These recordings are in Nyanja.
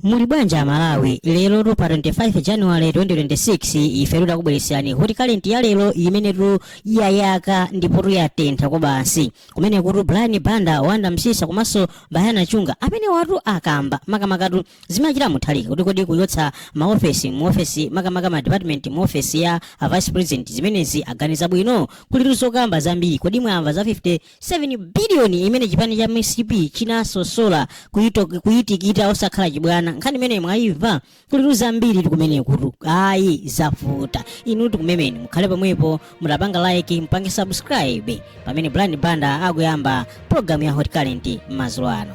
muli bwanji amalawi lero tu pa 25 january 2026 ife takubweretserani hot current ya lero imene tu yayaka ndipo tu yatentha kwabasi kumene kuli brian banda wonder msiska komanso bayana chunga amenewatu akamba makamakatu zimene wachita mutharika kuti kodi kuchotsa maofesi muofesi makamaka ma department muofesi ya a vice president zimenezi aganiza bwino kulitu zokamba zambiri kodi mwamva za 50 7 biliyoni imene chipani cha mcp chinasosola kuyito- kuyitikita osakhala chibwana nkhani imene mwayimva kulitu zambiri kumenekutu ayi zavuta inu tikumemani mukhale pomwepo mutapanga like mupange subscribe pamene brian banda akuyamba pologalamu ya hot current m'mazulo ano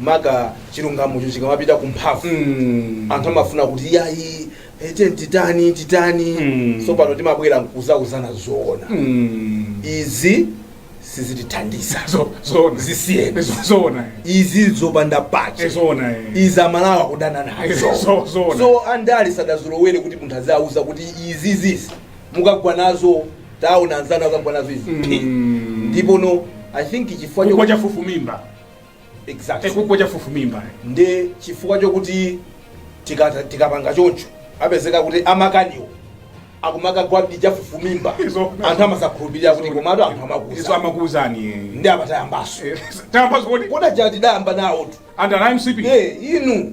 maka chilungamocho chikamapita ku mphamvu Mm. anthu amafuna kuti yayi eti titani titani Mm. so pano timabwera nkuzauzana zoona Mm. izi sizitithandiza Zo- zoona Zisiyeni. Zo- zoona izi zopanda Eh, pache zoona eh. izi amalawi kudana nazo Eh, zo- zoona. so andali sadazolowere kuti munthu azawauza kuti izi izizi mukagwa nazo taona anzanu akagwa nazo izi Mm. ndipo no i think chifukwa chifukwa chokuti- chafufumimba Exactly. kugwa chafufumimba ndi chifukwa chokuti tikata- tikapanga choncho apezeka kuti amakaniwo akumakagwadi chafufumimba Izo- anthu amazakhulupirira kuti komatu anthu izo amakuza amakuuzani ndi amatayambaso tayambaso kodi kodi paja tidayamba nawotu anthu ana mcp Eh, inu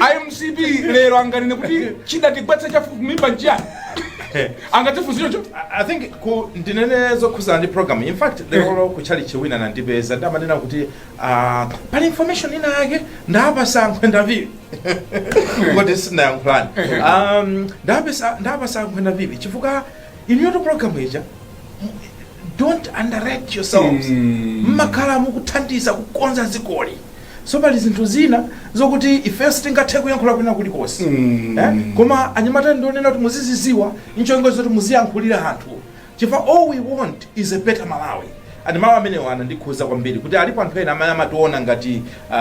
a mcp lero anganene kuti chidatigwetsa chafufumimba nchiyani angatifunzire cho I think ku ndinene zokhudzana ndi program in fact lero ku chalichi wina anandipeza nde amanena kuti ah, pali information ina yake ndapatsa a mkwenda phiri koti sinayankhulani Um, ndapatsa ndapatsa a mkwenda phiri chifukwa inuyotu program ija don't underrate yourselves mmakhala mukuthandiza kukonza dzikoli so pali zinthu zina zokuti ifeyo sitingathe kuyankhula kwina kulikonse Mm. eh? koma anyamata ndikunena kuti muziziziwa ncholinga zoti muziyankhulira anthu chifukwa all we want is a better malawi and mawu amenewo anandikhuza kwambiri kuti alipo anthu ena amene amationa ngati uh,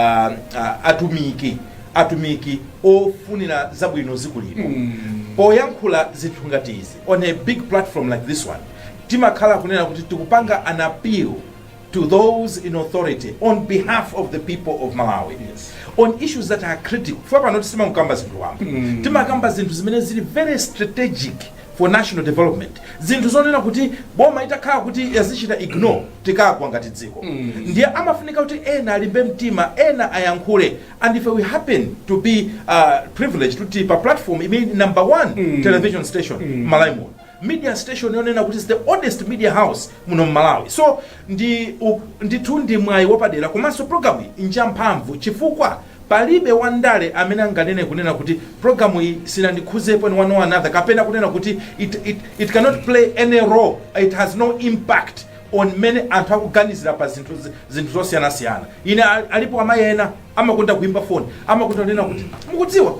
uh, atumiki atumiki ofunira zabwino dziko lino Mm. poyankhula zinthu ngati izi on a big platform like this one timakhala kunena kuti tikupanga an appeal to those in authority on behalf of the people of malawi yes. on issues that are critical ife pano sitimangokamba zinthu wamba mm. timakamba zinthu zimene zili very strategic for national development zinthu zonena kuti boma itakhala kuti yazichita ignore tikagwa ngati dziko mm. ndiye amafunika kuti ena alimbe mtima ena ayankhule and if we happen to be uh, privileged kuti tili pa platform imene number one mm. television station mm. malawi muno Media station yonena kuti is the oldest media house muno mmalawi so ndi u ndithu ndi mwayi wapadera komanso program yi njamphamvu chifukwa palibe wa ndale amene anganene kunena kuti program yi sinandikhuzepo in one or another kapena kunena kuti it it it cannot play any role it has no impact on mmene anthu akuganizira pa zinthu zi- zinthu zosiyanasiyana ine a- alipo amayi ena amakonda kuimba foni amakonda kunena kuti mukudziwa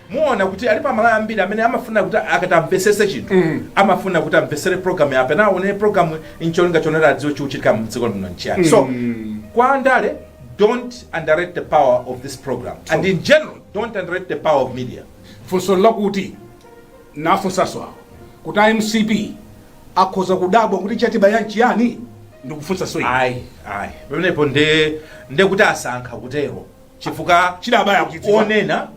Muona kuti alipo amalawi ambiri amene amafuna kuti akati amvesese chinthu amafuna kuti amvesere program yapa one on one program ncholinga chonena adziwe chikuchitika mdziko lino nchiyani so kwa andale don't underrate the power of this program and in general don't underrate the power of media funso lakuti nafunsaso awo kuti a mcp akhoza kudabwa kuti chatibaya nchiyani ndikufunsaso ayi ayi pamenepo nde nde kuti asankha kutero chifukwa Chidawabaya akuchidziwa. onena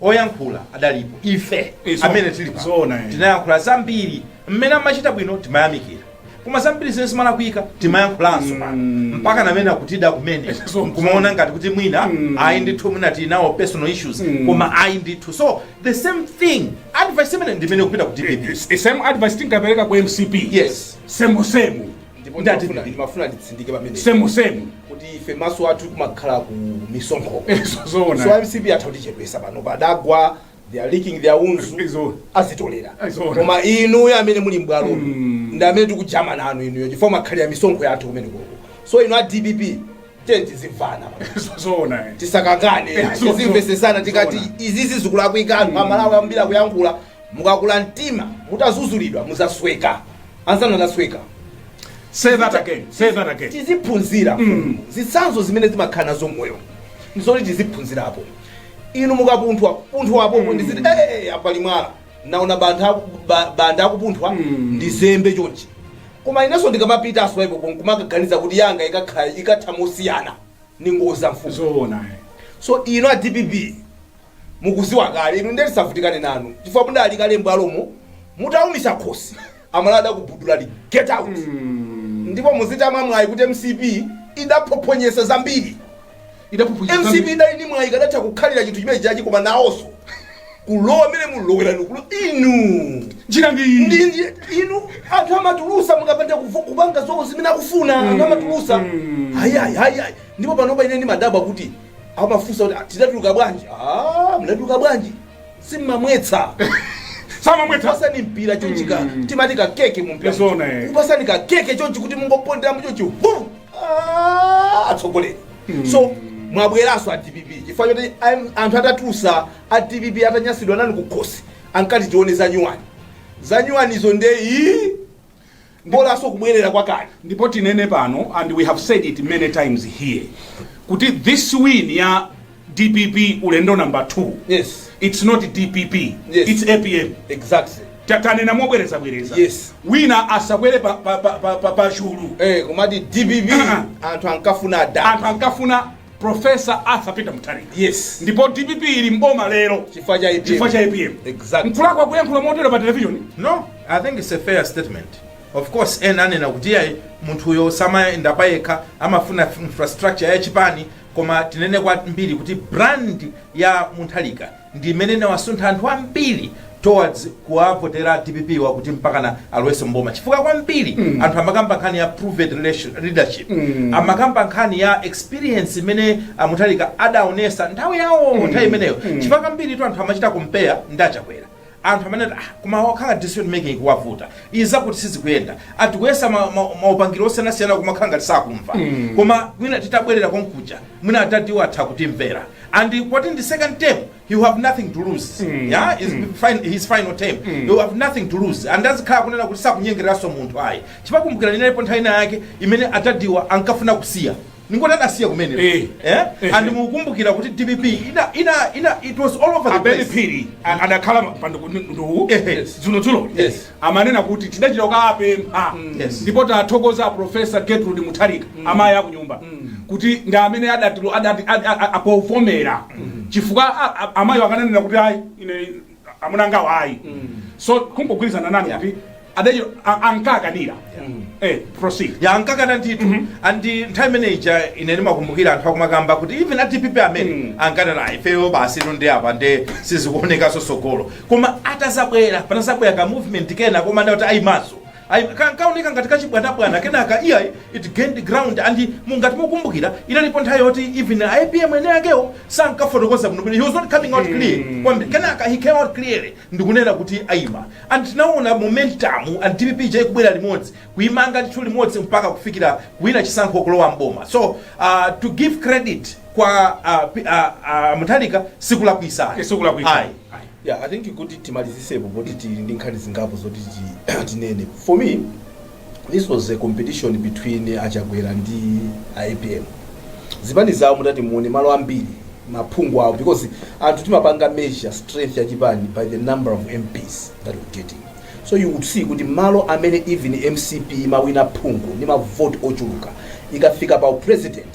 oyankhula adalipo ife Eh, so- amene tili pano zoona, eh. tinayankhula zambiri mmene amachita bwino timayamikira koma zambiri zimene zimalakwika timayankhulanso pano mpakana mene akutida kumene So- kumaona ngati kuti mwina ayi ndithu mwina tili nawo personal issues koma ayi ndithu so the same thing advice imene ndimene ikupita ku dpp It's the same advice tinkapereka ku mcp Yes. same same ndipo Ndati ndimafuna- ndi- ndimafuna nditsindike pamene semu semu kuti ife maso athu kumakhala ku misonkho Izo so zoona mcp atha kutichepesa pano padagwa they are licking their wounds Izo. azitolera Izo. koma inuyo amene muli mbwalo Mm. ndi amene tikujamana nanu inuyo chifukwa mwakhalira misonkho yathu kumene koko so inu a dpp tiye tizimvana Izo zoona eh. tisakangane Izo. tizimvesesana tikati Zoona. izizi zikulakwika anthu amalawi ambiri akuyankhula Mukakula mtima mutadzudzulidwa muzasweka. Anzanu anasweka. Say that again. Say that again. Tiziphunzira. Mm. Zitsanzo zimene timakhala nazo mmoyo. Ndizoti tiziphunzirapo. Inu mukapunthwa, punthwapo mm. ndiziti eh, eh, eh apali mwala. Naona Bamtha Banda akupunthwa mm. ndizembe chonchi. Koma inenso ndikamapita that's why po kumakaganiza kuti yanga ikakhala ikatha mosiyana. Ndi ngozi mfumu. Zoona. So inu a DPP mukuziwa kale inu ndiye tisavutikane nanu chifukwa mudali kale mbwalomo mutaumitsa khosi amalawi adakugubuduzani get out ndipo muzitama mwayi kuti mcp idaphophonyesa zambiri Idaphophonyesa mcp zambiri. idali ni mwayi akadatha kukhalira chinthu chimenechichi koma nawonso kulowa mmene mwalowera inu kulowa inu Njira ndi iyi. ndi ndi- inu anthu amatulusa mukapanda kuvu- kupanga zomwe zimene akufuna anthu amatulusa hayayi hayayi ndipo panopa ine ndimadabwa kuti amafunsa kuti "Ah, tinatuluka bwanji "Ah, mnatuluka bwanji simmamwetsa samamwetsa pasani mpira chonchi ka timati ka keke mumpira Zona, eh. kupasani ka keke chonchi kuti mungopondera mu chonchi vum Ah, atsogoleriso mwabweranso a dpp chifukwa choti am- anthu atatulusa a dpp atanyasidwa nanu kukhosi ankati tione zanyuwani zanyuwanizo nde iyi mbolanso kubwerera kwakale ndipo tinene pano and we have said it many times here kuti this win ya dpp ulendo number 2 Yes. it's not dpp Yes. it's apm exactly Ta- tanena mobwerezabwereza Yes. wina asakwere pa, pa, pa, pa, pa, pa chulu eh, kumati dpp anthu ankafuna anthu adani ankafuna Professor Arthur Peter Mutharika. Yes. Ndipo DPP ili mboma lero. Chifukwa cha APM. Chifukwa cha APM. Exactly. Mkulakwa kuyankhula motero pa television. No, I think it's a fair statement. Of course, ena anena kuti ayi munthu uyo samayenda payekha amafuna f- infrastructure ya chipani koma tinene kwambiri kuti brand ya Mutharika ndi imene inawasuntha anthu ambiri towards kuwavotera dpp wa kuti mpakana alowenso mboma chifukwa kwambiri mm. anthu amakamba nkhani ya proven relation- leadership mm. amakamba nkhani ya experience imene amuthalika adaonesa nthawi yawo mm. nthawi imeneyo mm. chifukwa kwambiritu anthu amachita compare ndi a Chakwera anthu amene ati ah koma wakhala decision making ikuwavuta izi zinthu sizikuyenda akayesa ma- ma- maupangiro osiyanasiyana kumakhala ngati sakumva koma mwina titabwerera konkuja mwina adadiwo atha kutimvera and poti ndi second term he will have nothing to lose yeah his final his final term he will have nothing to lose and azikhala kunena kuti sakunyengereranso munthu ayi Chifukwa mukumbukira inalipo nthawi ina yake imene adadiwa ankafuna kusiya ndingoti adasiya kumene Eh. eh? Eh. and mukumbukira kuti dpp ina, ina, ina, it was all over the a Ben place phiri a- adakhala pa ndondo Ehe. dzulodzulo Yes. amanena kuti tidachita kukawapempha Yes. ndipo tathokoza a profesa gertrude mutharika amayi akunyumba kuti ndi amene adati- adati- ad- a- a- apavomera chifukwa a- a- amayi akananena kuti ayi ine amuna angawa ayi so kungogwirizana nanu Yeah. kuti adadiwo a- ankakanira eh President ankakana ndithu and nthawi imene ija ine ndimakumbukira anthu akumakamba kuti even adpp amene Mm. ankanena ifeyo basi tithu ndi apa nde sizikuonekanso sogolo koma atazabwera panazabwera ka movement kena koma adadi ayimanso Ayi, kankawoneka ngati kachibwanabwana, kenaka iyayi, it gained ground and ngati mukukumbukira inalipo nthawi yoti even a apm eni akewo sankafotokoza bwinobwino, he was not coming out clear kwambiri, kenaka he came out clearly ndikunena kuti ayima and tinawona momentum and dpp ija ikubwera limodzi kuyimanga ndithu limodzi mpaka kufikira kuwina chisankho kulowa m'boma so uh, to give credit kwa uh, P- uh, uh, Mutharika sikulakwisa ayi. Sikulakwitsa. Ayi. Yeah I think kuti timalizisepo poti tili ndi nkhani zingapo zoti tinene. For me this was a competition between a Chakwera and a apm. Zipani zawo mutati muone malo ambiri maphungu awo because anthu timapanga measure strength ya chipani by the number of MPs that we're getting. So you would see kuti malo amene even mcp imawina phungu ndi mavoti ochuluka ikafika pa u president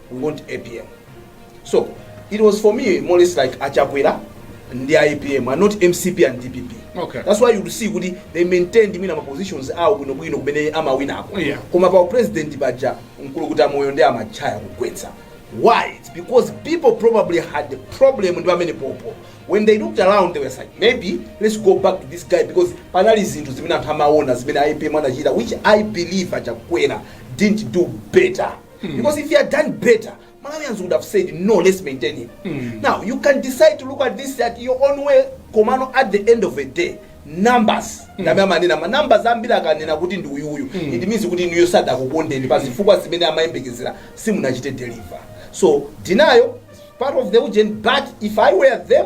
we want apm so it was for me more or less like achakwera ndi apm and not mcp and dpp Okay. that's why you see kuti they maintained mwina ma positions awo bwinobwino kumene amawinako Yeah. koma pa president paja mkulukuta moyo ndi amachaya kugwetsa why it's because people probably had the problem ndi pamenepopo when they looked around they were like maybe let's go back to this guy because panali zinthu zimene anthu amaona zimene apm anachita which i believe achakwera didn't do better mm. because if he had done better malawians would have said no let's maintain him mm. now you can decide to look at this at your own way komano at the end of the day numbers mm. nd'amene amanena ma numbers ambiri akanena kuti ndi uyuyu mm. it means kuti inuyo sadakukondeni pa zifukwa zimene amayembekezera simunachite deliver so denial is part of the ujeni but if i were them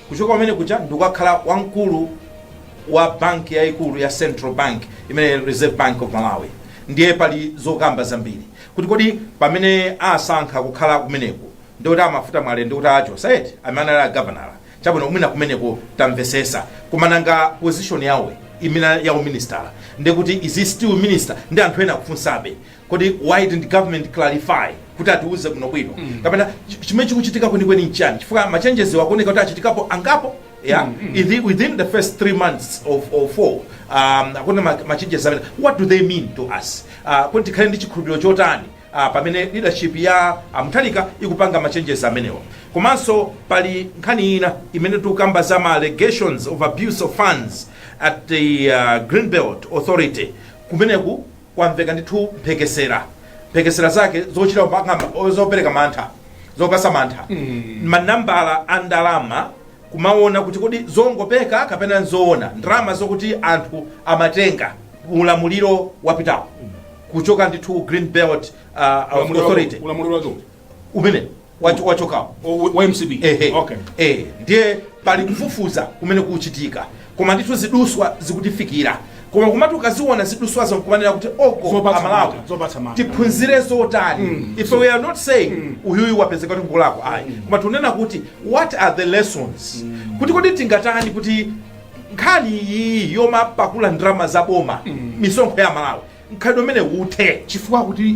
kuchoka pamene paja ndikukakhala wamkulu wa banki yayikulu ya Central Bank imene Reserve Bank of Malawi ndiye pali zokamba zambiri kuti kodi pamene asankha kukhala kumeneku ndikuti amafuta mwale ndikuti a Joseph amene anali a gavanala chabwino mwina kumeneko tamvesesa koma nanga position yawo ina ya uministala ndikuti is he still minister ndi anthu ena akufunsabe kodi why didn't government clarify kuti atiuze bwino bwino mm. kapena ch- chimene chikuchitika kwenikweni nchani chifukwa ma changes akuoneka kuti achitikapo angapo yeah mm. Ithi, within the first three months or four um, akuona ma- ma changes amene what do they mean to us uh, kuti tikhale ndi chikhulupiriro chotani uh, pamene leadership ya amuthalika ikupanga ma changes amenewa komanso pali nkhani ina imene tikukamba za ma allegations of abuse of funds at the uh, greenbelt authority kumeneku kwamveka ndithu mphekesera mphekesera zake zochita kupanga ma- zopereka mantha zopasa mantha manambala a ndalama kumaona kuti kodi zongopeka kapena nzoona ndalama zokuti anthu amatenga ulamuliro wapitawo kuchoka ndithu green belt uh, Ulamuliro wa- authority ulamuliro wa choncho. umene wacho- wachokawo O- wa mcp Ehe. okay Eh, ndiye pali kufufuza kumene kuchitika koma ndithu ziduswa zikutifikira koma kumati ukaziona ziduswazo nkumanena kuti oko Zopatsa amalawi mantha, zopatsa mantha. tiphunzire zotani if we are not saying uyuyu wapezeka kuti ngolakwa ayi koma tunena kuti what are the lessons kuti kodi tingatani kuti nkhani iyi yomapakula ndalama za boma misonkho ya amalawi mkhalidwe umene uthe chifukwa kuti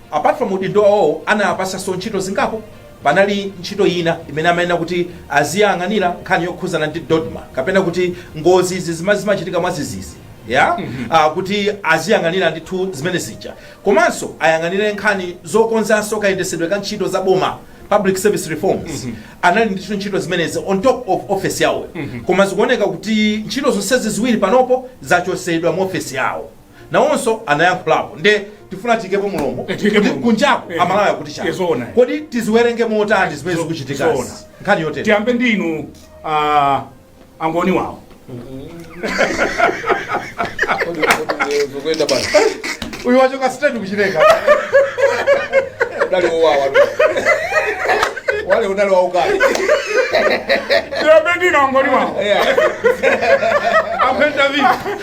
Apart from udindo wawowo anawapatsanso ntchito zingapo. Panali ntchito ina imene amayenera kuti aziyang'anira nkhani yokhuzana ndi dodma kapena kuti ngozi izi zima zimachitika mwadzidzidzi ya Ah, kuti aziyang'anira ndithu zimene zija komanso ayang'anire nkhani zokonzanso kayendesedwe ka ntchito za boma public service reforms anali ndithu ntchito zimenezi on top of office yawo koma zikuoneka kuti ntchito zonsezi ziwiri panopo zachotsedwa mu office yawo nawonso anayankhulapo nde tifuna tiikepo mulomo kuti kunjaku eh, amalawi akuti chani eh, kodi tiziwerenge motani zimene zikuchitika nkhani yotere tiyambe ndi inu ah, angoni wawo uyu wachoka straight kuchileka udali wowawa wale udali wa ukali tiyambe ndi inu angoni wawo akupenda vipi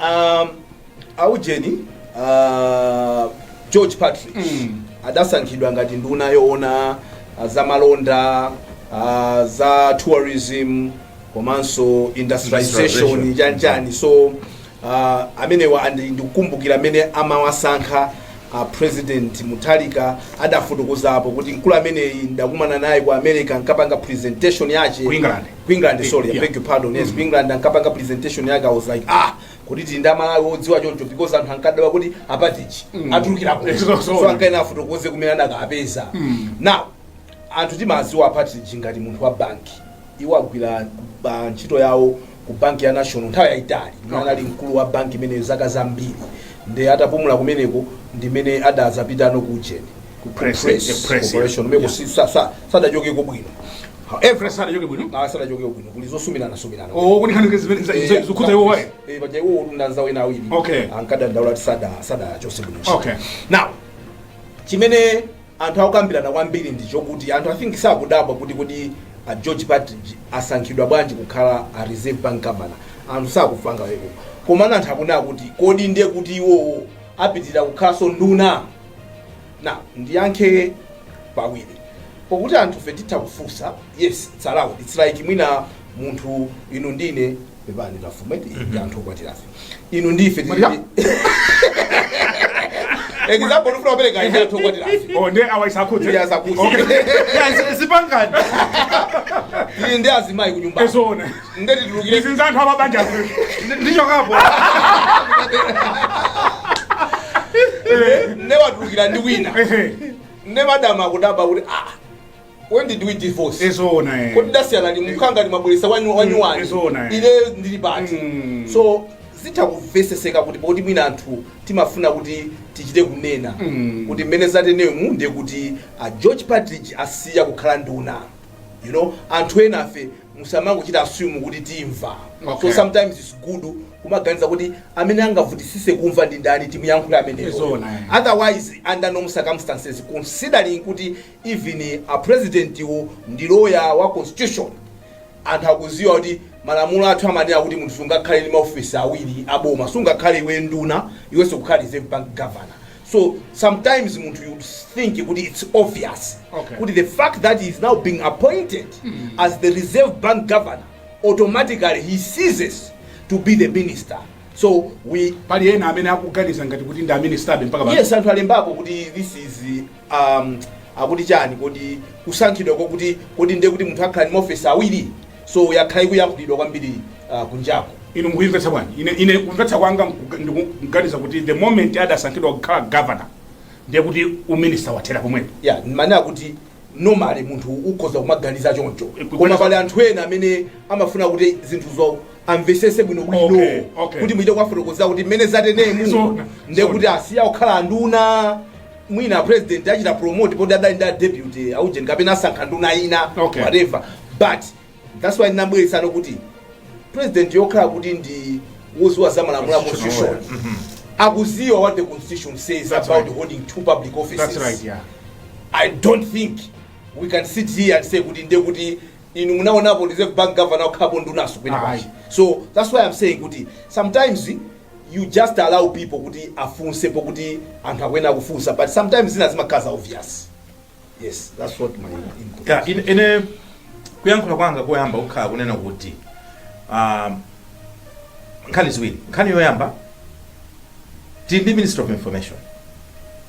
um, aujeni uh, george partridge mm. adasankhidwa ngati nduna yoona uh, za malonda uh, za tourism komanso industrialization Industrialization. chanchani so uh, amenewa andi- ndikukumbukira mmene amawasankha uh, president mutharika adafotokozapo kuti mkulu ameneyi ndakumana naye ku america ankapanga presentation yache Ku England. ku england sorry i beg your pardon yes ku england ankapanga presentation yake i was like ah kuti tili ndi amalawi odziwa choncho because anthu ankadabwa kuti a partridge atulukira kuti Yes, so- so ankayenera afotokoze kumene anakawapeza now anthu timawadziwa a partridge ngati munthu wa banki iwo agwira ba- ntchito yawo ku banki ya national nthawi yayitali imene anali mkulu wa banki imeneyo zaka zambiri ndi atapumula kumeneko ndi mmene adadzapitano ku ujeni Ku press, eh, press, corporation yeah. kumeneko si- sa- sa- sadachokeko bwino However, sanachoke bwino. Ah, sanachoke bwino. Kuli zosumirana sumirana. Oh, kuli nkhani zimene eh, zikukhudza iwowo ayi. Eh, paja iwo ndi anzawo ena awiri. Okay. Ankadandaula kuti sada sadachotsedwe bwino. Okay. Now, chimene anthu akukambirana kwambiri ndi chokuti anthu I think sakudabwa kuti kuti a George Partridge asankhidwa bwanji kukhala a Reserve Bank Governor. Anthu sakufunsa zimenezo. Koma anthu akunena kuti kodi ndiye kuti iwowo apitiriza kukhalanso nduna Now ndiyankhe pawiri pokuti anthufe titha kufunsa yes its allowed its like mwina munthu inu ndine pepani a Mafumu mm -hmm. anthu okwatirafe inu ndife example ndifuna kupereka ife anthu okwatirafe oh ndiye awa isakhudze ndiye asakhudze okay yeah mapangano ndi azimayi kunyumba ezone Nde titulukire. Ndizidza anthu amabanja. Ndichokapo. Nde watulukira ndi wina. Nde madam akudabwa kuti ah, When did we divorce? Ezoona eh. Kodi tasiyana ndi mkhanga ndi mabweresa wanyu wanyu wani. Ezoona eh. Ine ndili pati. So zitha kumveseseka kuti poti mwina anthu timafuna kuti tichite kunena mm. kuti mmene zatenemu ndiye kuti a george partridge asiya kukhala nduna you know anthu enafe musamangochita assume kuti timva Okay. so sometimes its good kumaganiza kuti amene angavutisise kumva ndi ndani timuyankhule ameneyo Ezoona, eh. otherwise under normal circumstances considering kuti even a president wo ndi lawyer wa constitution anthu akuziwa kuti malamulo athu amanena kuti munthu sungakhale ndi maofisi awiri aboma sungakhale iwe nduna iwenso kukhala reserve bank governor so sometimes munthu you think kuti it's obvious Okay. kuti the fact that he is now being appointed as the reserve bank governor automatically he ceases to be the minister so we pali ena amene akuganiza ngati kuti ndi a ministerbe mpaka pano. yes anthu alembapo kuti this is um, akuti chani kodi kusankhidwa kwakuti kodi ndiye kuti munthu akhala ndi maofesi awiri So yakhala ikuyankhulidwa kwambiri uh, kunjaku. Inu mukuyimvetsa bwanji? Ine, ine kumvetsa kwanga ndikuganiza kuti the moment adasankhidwa kukhala governor ndiye kuti uminista wathera pomwepo. Yeah, mmanena kuti normally munthu ukhoza kumaganiza choncho eh, koma pali anthu ena amene amafuna kuti zinthuzo amvesese bwino bwino okay, okay. kuti muchite kuwafotokozera kuti mmene zatenemu ndekuti asiya kukhala anduna mwina a president achita promote poti adali ndi a deputy a ujeni kapena asankha nduna ina Okay. whatever but that's why ndinabweretsanso kuti president pokhala kuti ndi woziwa za malamulo a constitution akuziwa what the constitution says That's about right. holding two public offices That's right, yeah. I don't think we can sit here and say kuti ndiye kuti inu munaonapo reserve bank governor okhapo ndunanso kwina Aye. kwachi so that's why i'm saying kuti sometimes you just allow people kuti afunsepo kuti anthu akuyenera kufunsa but sometimes zina zimakhala za obvious yes that's what my input ya ine, ine kuyankhula kwanga koyamba kukhala kunena kuti um, nkhani ziwiri nkhani yoyamba tili ndi minister of information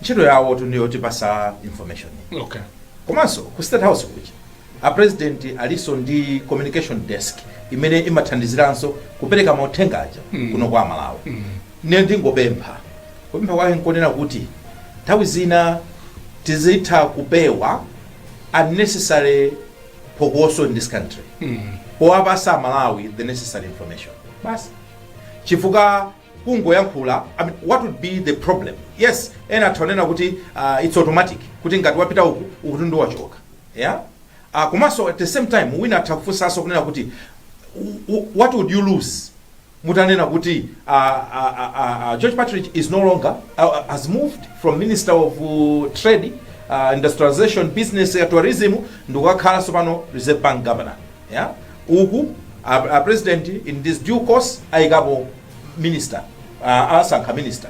ntchito yawotu ndi yotipasa information okay komanso ku state house kuja A president alinso ndi communication desk imene imathandiziranso kupereka mauthenga aja kuno kwa amalawi. Ine ndingopempha, kupempha kwake nkonena kuti nthawi zina tizitha kupewa unnecessary phokoso in this country powapasa amalawi the necessary information basi chifukwa kungoyankhula I mean, what would be the problem yes ena atha kunena kuti uh, it's automatic kuti ngati wapita uku ukutu ndiye wachoka ya uh, komanso at the same time wina atha kufunsanso kunena kuti "W- w- what would you lose mutanena kuti uh, uh, uh, uh, george partridge is no longer uh, uh, has moved from minister of uh, trade uh, industrialization business ya tourism ndikukakhalanso pano reserve bank governor ya uku a, a president in this due course ayikapo minister uh, asankha minister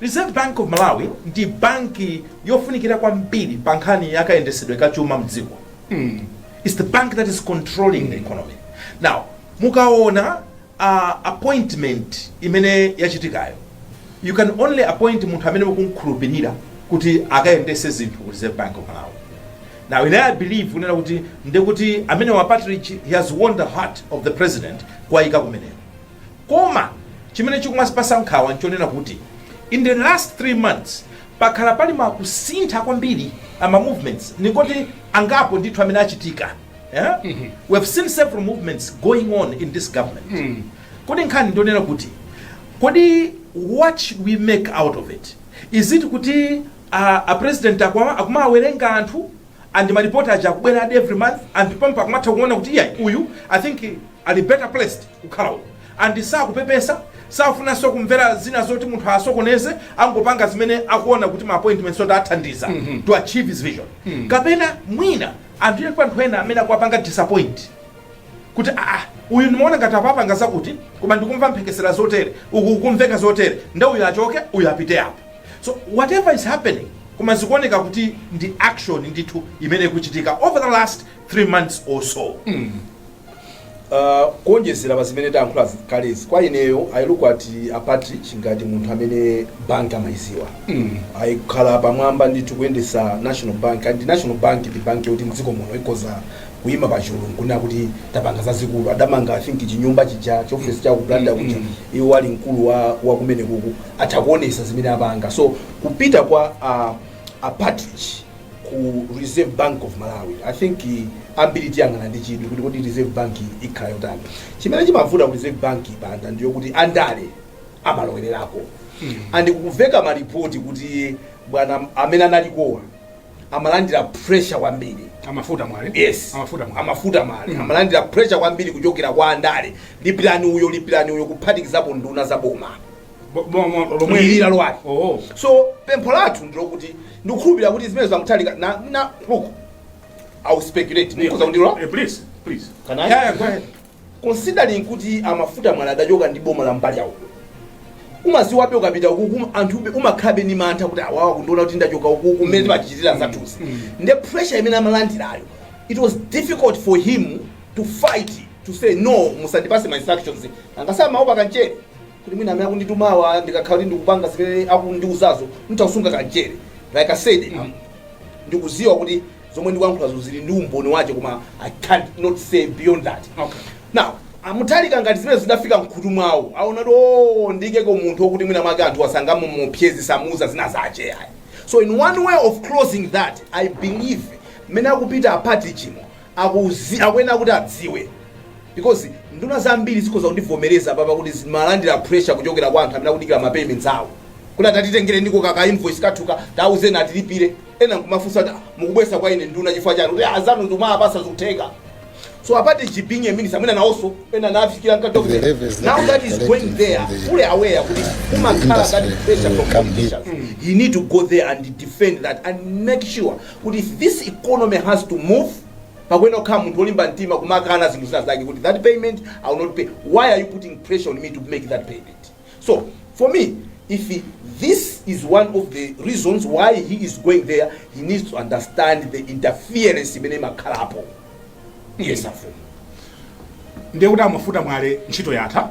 Reserve Bank of Malawi ndi banki yofunikira kwambiri pa nkhani ya kayendesedwe ka chuma mdziko. It's the bank that is controlling the economy. Now, mukaona appointment imene yachitikayo, you can only appoint munthu amene mukumkhulupirira kuti akayendese zinthu ku Reserve Bank of Malawi. Now, ine I believe kunena kuti ndekuti amenewa a Partridge, he has won the heart of the president kuwayika kumeneko. Koma chimene chikumatipatsa nkhawa n'chonena kuti, in the last three months, pakhala pali ma kusintha kwambiri a ma movements, ndingoti angapo ndithu amene achitika, yeah? We have seen several movements going on in this government. Kodi nkhani ndi yonena kuti, kodi what should we make out of it? Is it kuti a, a president akwa- akumawerenga anthu and ma report aja akubweradi every month and pompo akumatha kuona kuti iyayi uyu i think ali better placed kukhala uku and sakupepesa safunanso kumvera zina zoti munthu asokoneze angopanga zimene akuona kuti ma appointments oti athandiza to achieve his vision kapena mwina anthu ena anthu ena amene akuwapanga disappoint kuti aa uyu ndimaona ngati apa apanga zakuti koma ndikumva mphekesera zotere uku kumveka zotere nde uyu achoke uyu apite apo So whatever is happening koma zikuoneka kuti ndi action ndithu imene ikuchitika over the last three months or so Uh, kuonjezera pa zimene tayankhula kalezi kwa ineyo I look at a Partridge ngati munthu amene bank amayiziwa mm. ayikhala pamwamba ndithu kuyendesa national bank and national bank ndi bank yoti mdziko muno ikoza kuima pachulu nkunena kuti tapanga zazikulu adamanga i think chinyumba chija chiofesi cha ku Blantyre kuja iwo ali mkulu wa, wa kumene kuku atha kuonesa zimene apanga so kupita kwa uh, a Partridge ku Reserve Bank of Malawi I think uh, ambiri tiyang'ana ndi chidwi kuti kodi Reserve Bank ikhala yotani chimene chimavuta ku Reserve Bank panda ndiyo kuti andale amalowererako and kumveka malipoti kuti bwana amene analikowa amalandira pressure kwambiri a Mafuta Mwale yes a Mafuta Mwale a Mafuta Mwale mm. amalandira pressure kwambiri kuchokera kwa andale lipirani uyo lipirani uyo kuphatikizapo nduna za boma Bo- bo- mo- lomwe mwilira lwake oh so pempho lathu ndilokuti ndikukhulupirira kuti zimene za Mutharika na, na look i will speculate mukhoza kundilo Eh, please please Can I? yeah, yeah, go ahead considering kuti a Mafuta Mwale adachoka ndi boma la mbali ya uku umaziwabe ukapita ukuku anthu umakhabe ni mantha kuti awawa akundiona kuti ndachoka ukuku mmene timatichitira zathuzi nde pressure imene amalandirayo it was difficult for him to fight to say no musandipase ma instructions angasama opa kancheni kuti mwina amene akunditumawa ndikakhala kuti ndikupanga zimene akundiuzazo nditha kusunga kanchere like i said mm, ndikuziwa kuti zomwe ndikuyankhulazo zili ndi umboni wache koma i can't not say beyond that Okay. now a Mutharika ngati zimene zidafika mkhutu mwawo aona kuti o ndikeko munthu wokuti mwina mwake anthu asangomupeza samuza zina zache ayi so in one way of closing that i believe mmene akupita apati chimo akuyenera kuti adziwe because nduna zambiri zikhoza kundivomereza apapa kuti zimalandira pressure kuchokera kwa anthu amene akudikira ma payments awo kuti atatitengere ndiko kaka invoice kathuka tauzeni atilipire ena nkumafunsa kuti "Ah, mukubweretsa kwa ine nduna chifukwa chiyani kuti azanu mukumawapasa zikutheka so apart from being a minister amene nawonso ena nafikira now that he is going there fully aware kuti kumakhala that pressure from politicians he need to go there and defend that and make sure kuti if this economy has to move pakuyenera kukhala munthu wolimba mtima kumakana zinthu zina zake kuti that payment i will not pay why are you putting pressure on me to make that payment so for me if this is one of the reasons why he is going there he needs to understand the interference imene imakhalapo yes afumu ndiye kuti a Mafuta Mwale ntchito yatha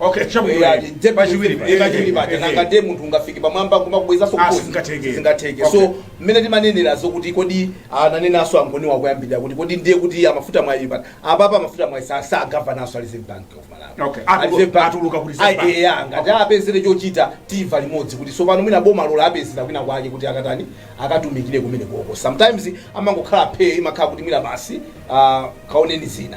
Okay, chabwino. Eh, ati depth Pachiwiri pa- eh, pachiwiri paja eh, nanga eh. ndiye munthu ungafike pamwamba kumakubwezaso Ah, sizingatheke. zingatheke Okay. so mmene timanenera zokuti kodi ananenanso angoni koyambirira kuti kodi ndiye kuti a Mafuta Mwale pano apapa a Mafuta Mwale sa- si governor-nso wa Reserve Bank of Malawi Okay, atulu- Reserve Bank. atuluka ku Reserve Ai, Bank. eh, ah, ngati awapezere chochita timva limodzi kuti tsopano mwina boma lawapezera kwina kwake kuti akatani akatumikire kumenekoko sometimes amangokhala phe imakhala kuti mwina basi ah, kaoneni zina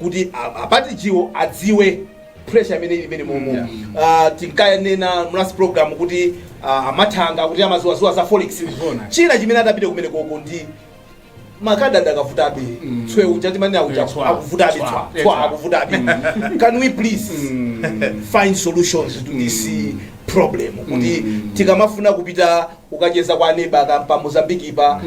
kuti apatijiwo adziwe pressure imene ili mmenemomo yeah. uh, tinkanena mu last program kuti uh, a Mathanga kuti amaziwaziwa za forex china chimene atapite kumenekoko ndi makadi akadavutabe mm. tswe uja timanena uja yeah, akuvutabe tswa tswa akuvutabe can we please mm. find solutions to this mm. problem kuti mm. tikamafuna kupita kukacheza kwa neba ka mpa Mozambique pa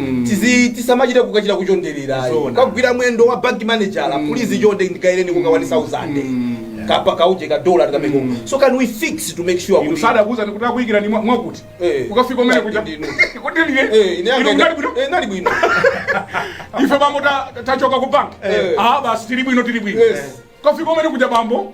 tisamachite kukachita kuchondererayo Zona. kukagwira mwendo wa bank manager please chonde ndigaireniko ka 1000 kapa kauje ka dollar tikameko so can we fix to make sure inu kuti- sadakuza ndikuti akuyikira ni mwa- mwakuti Eh. ukafika kumene kuja Ndinu. kuti Eh, liye ine inu yanga- mnali bwino eh, nali bwino ife bambo ta- tachoka ku bank Eh. ah basi tili bwino tili bwino Yes. kafika kumene kuja bambo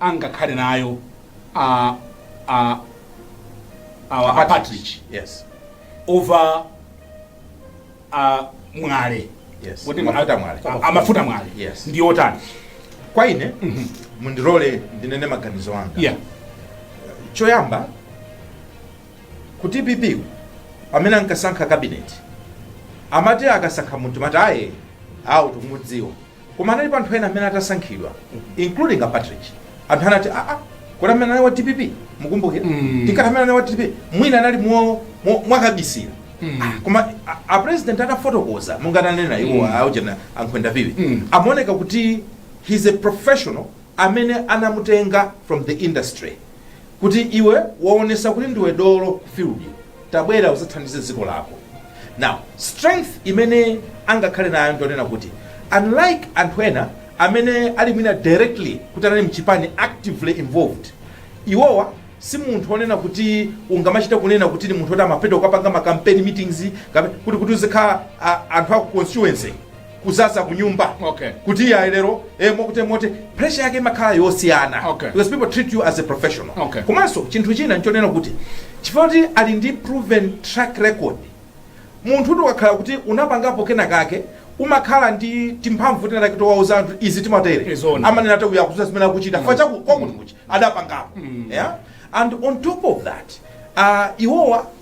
angakhale nayo a a awa a Patrick yes o Viera Mwale Yes. Kuti Mafuta a- Mwale. a- a Mafuta Mwale Yes. ndi otani kwa ine mundilole ndinene maganizo anga yeah choyamba kuti DPP pamene ankasankha kabineti amati akasankha munthu mumati aaye awo tikumudziwa Koma analipo anthu ena amene atasankhidwa including a Patrick. Anthu anati a a kodi amene anali wa DPP mukumbukira? Mm. Kuti amene anali wa DPP mwina anali mo mo- mwakabisira. Ah, Koma a- a president anafotokoza monga ananenera iwo aujana ankhwenda viwi. Mm. Amaoneka kuti he's a professional amene anamutenga from the industry. kuti iwe waonesa kuti ndiwe dolo ku field tabwera uzathandize dziko lako now strength imene angakhale nayo ndionena kuti unlike anthu ena amene ali mwina directly kuti anali mchipani actively involved iwowa si munthu onena kuti ungamachite kunena kuti ni munthu oti amapita kukapanga ma campaign meetings kape- kuti kuti uzikhala a- anthu aku constituency kuzaza kunyumba okay. kuti iye lero eh, moti moti pressure yake imakhala yosiyana okay. because people treat you as a professional okay. komanso chinthu china nchonena kuti chifukwa kuti ali ndi proven track record munthu ukakhala kuti unapangapo kena kake umakhala ndi timphamvu tinatake towauza anthu izi timatere amanena kuti uyu akudziwa zimene akuchita mm. chifukwa cha kwakuti kwakuti adapangapo mm. yeah? and on top of that uh, iwowa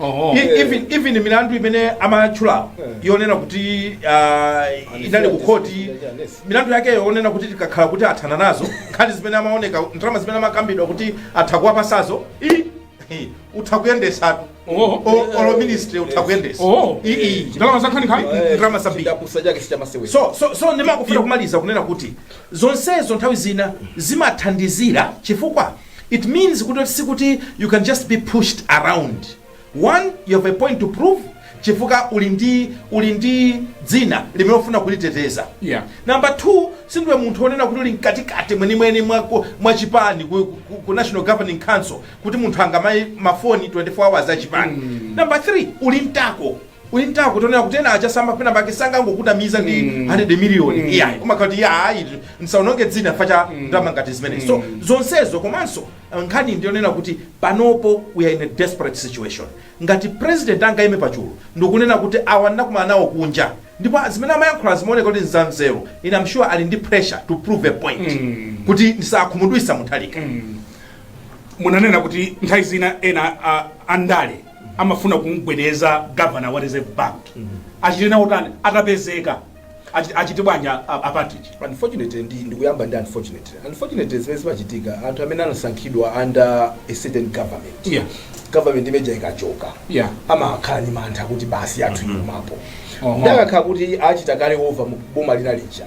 Oho. E- even even milandu imene amatchula yonena kuti ah, inali ku khoti milandu yakeyo onena kuti tikakhala kuti athana nazo nkhani zimene amaoneka ndalama zimene amakambidwa kuti atha kuwapatsazo i- i- utha kuyendesatu Oho. O- olo ministry utha kuyendesa Oho. I- i. Ndalama za nkhaninkhani? Eh, Ndalama zambiri. chidapusa chake sichamasewera so so so ndimafuna kumaliza kunena kuti zonsezo nthawi zina zimathandizira chifukwa It means kuti sikuti you can just be pushed around, one you have a point to prove chifukwa uli ndi uli ndi dzina limene ufuna kuliteteza Yeah. number two sindiwe munthu onena kuti uli mkatikati mwenimweni mwa, ku- mwa chipani ku, ku, ku national governing council kuti munthu angamayimbe mafoni 24 hours a chipani number three uli nta- Uli ntako onena kuti ena aja sama penapake sangangokutumiza ndi mm. 100 million mm. iwe umati ya ayi nsaononge dzina chifukwa cha mm. ndalama ngati zimene mm. so zonsezo komanso eh, nkhani ndi yonena kuti panopo we are in a desperate situation ngati president angaime pachulu ndikunena kuti awa ndinakumana nawo kunja ndipo zimene amayankhula zimaoneka kuti nzanzeru ine am sure ali ndi pressure to prove a point mm. kuti ndisakhumudwitse Mutharika mm. munanena kuti nthawi zina ena uh, andale amafuna kumgwedeza governor wa reserve bank achite nawo tani atapezeka Achi- achite bwanji a- a- a Patrick unfortunately ndi ndikuyamba ndi unfortunately unfortunately zimene zimachitika anthu amene anasankhidwa under a certain government Yeah. government imeja ikachoka Yeah. amakhala ndi mantha kuti basi atithotha pamenepo Oho. nde akakhala kuti achita kale over mu boma lina lija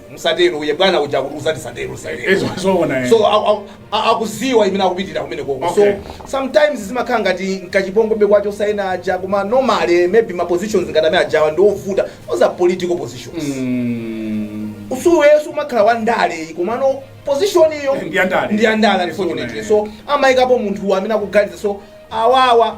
musatero uye bwana uja kuti usati satero satero. Izo- zoona, eh. so a- a- a- akudziwa chimene akupitira kumene koko Okay. so sometimes zimakhala ngati nkachipongobe kwacho osaina aja koma normally maybe ma positions ngati amene ajawa ndi ovuta those are political positions Mm. nthawi zonse umakhala wa ndale komano position iyo Ndi ya ndale. ndi ya ndale Yes, unfortunately una- so amayikapo munthu amene akuganiza so awawa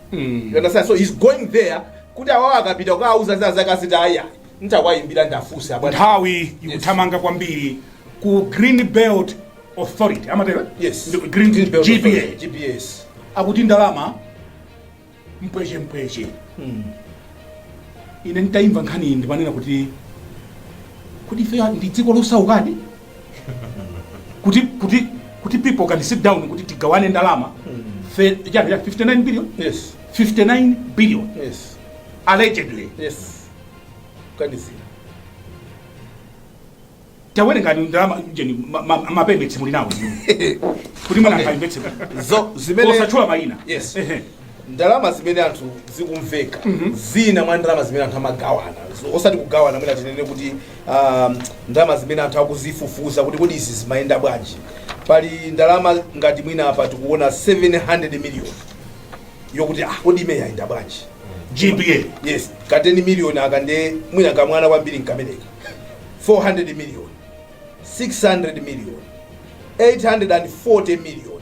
you understand so he's going there kuti awawo akapita kukawauza zakasitaya ntawayimbira ndafunsa abwana nthawi ikuthamanga kwambiri ku green belt authority amatero yes Ndi- green, Green Belt GBA Authority, GBA akuti ndalama mpweche mpweche ine nditayimva nkhani iyi ndimanena kuti kuti ife ndi dziko losaukadi kuti kuti kuti people can sit down kuti tigawane ndalama Fe- ya- ya 59 billion yes 59 billion yes allegedly yes kuganizira tawerengani ndalama ujeni ma- ma- mapembetsi muli nawo kuti mwana Okay. akaimvetse Zo- zimene- osatchula mayina yes Ehe. ndalama zimene anthu zikumveka zina mwa ndalama zimene anthu amagawana Z- osati kugawana mwina tinene kuti um, ndalama zimene anthu akuzifufuza kuti kodi izi zimayenda bwanji pali ndalama ngati mwina apa tikuona 700 million yokuti ah, kodi imeneyi yayenda bwanji GBA. yes ka 10 million aka nde mwina kamwana kwambiri nkameneka 400 million 600 million 840 million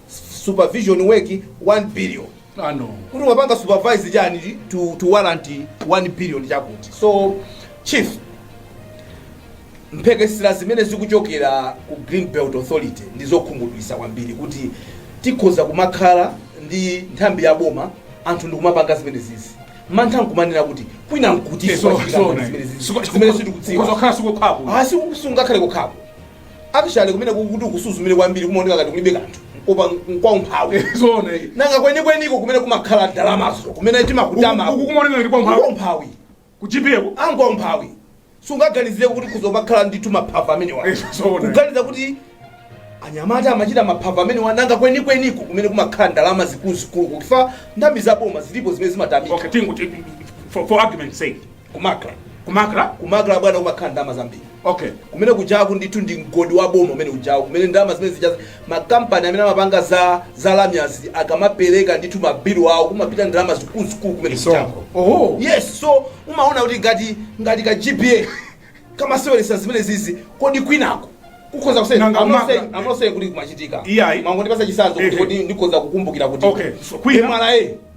supervision work 1 billion Ah, no. kuti wapanga supervise chani chi- to, to warrant 1 billion chakuti so chief mphekesera zimene zikuchokera ku green belt authority ndi zokhumudwitsa kwambiri kuti tikhoza kumakhala ndi nthambi ya boma anthu ndikumapanga zimene zizi mantha nkumanena kuti kwina nkuti So- so, zimene zizi zimene sitikudziwa kuzokhala si kokhapo asi sungakhale kokhapo Actually kumene kuti ukasuzumire kwambiri kumaoneka ngati kulibe kanthu koma nkwa umphawi. Zoona iyi. Nanga kwenikweniko kumene kumakhala ndalamazo kumene timakutama Uku- uku kumaoneka ngati kwa umphawi. Kwa umphawi. Ku GBA ku. Nkwa umphawi. Sungaganizire kuti kuzomakhala ndithu maphava amenewa. Eh, zoona. Kuganiza kuti anyamata amachita maphava amenewa nanga kwenikweniko kumene kumakhala ndalama zikuluzikulu kuti nthambi za boma zilipo zimene zimatamika. Okay, tingoti for, for argument's sake. ku MACRA ku MACRA ku MACRA bwana kumakhala ndalama zambiri okay kumene kujaku ndithu ndi mgodi wa boma umene kujaku kumene ndalama zimene zijaza makampani amene amapanga za za lamyazi akamapereka ndithu mabilu awo kumapita ndalama zikuluzikulu kumene kujaku oho yes so umaona kuti ngati ngati ka GBA kamaseweretsa zimene zizi kodi kwinako kukhoza kusena Nanga I'm not maka- I'm not saying kuti kumachitika Iyayi. mangondipasa chisanzo kuti Ehe. kodi ndikhoza kukumbukira kuti Okay, so kwina- MRA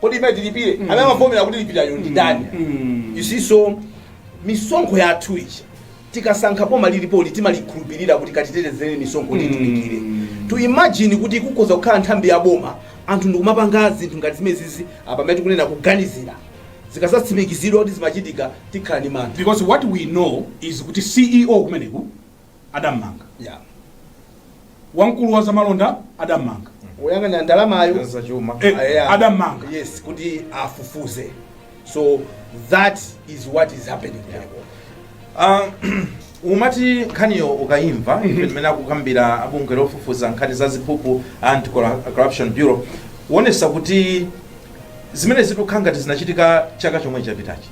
kodi imene tilipire amene amavomera kuti lipirani ndi ndani you see so misonkho yathu ija tikasankha boma lilipoli timalikhulupirira kuti katitetezere misonkho kuti itumikire to imagine kuti kukhoza kukhala nthambi ya boma anthu ndikumapanga zinthu ngati zimenezizi apa amene tikunena kuganizira zikazatsimikizidwa kuti zimachitika tikhala ndi mantha because what we know is kuti ceo kumeneko adammanga Yeah. wamkulu wa zamalonda adammanga oyang'anira ndalamayo za chuma Eh, Ah, yeah. adammanga. yes kuti afufuze so that is what is happening yeah. Ah, umati nkhaniyo ukayimva imene akukambira a bungwe lofufuza nkhani za ziphuphu anti Corru- corruption bureau kuonesa kuti zimene zikukhala ngati zinachitika chaka chomwe chapitachi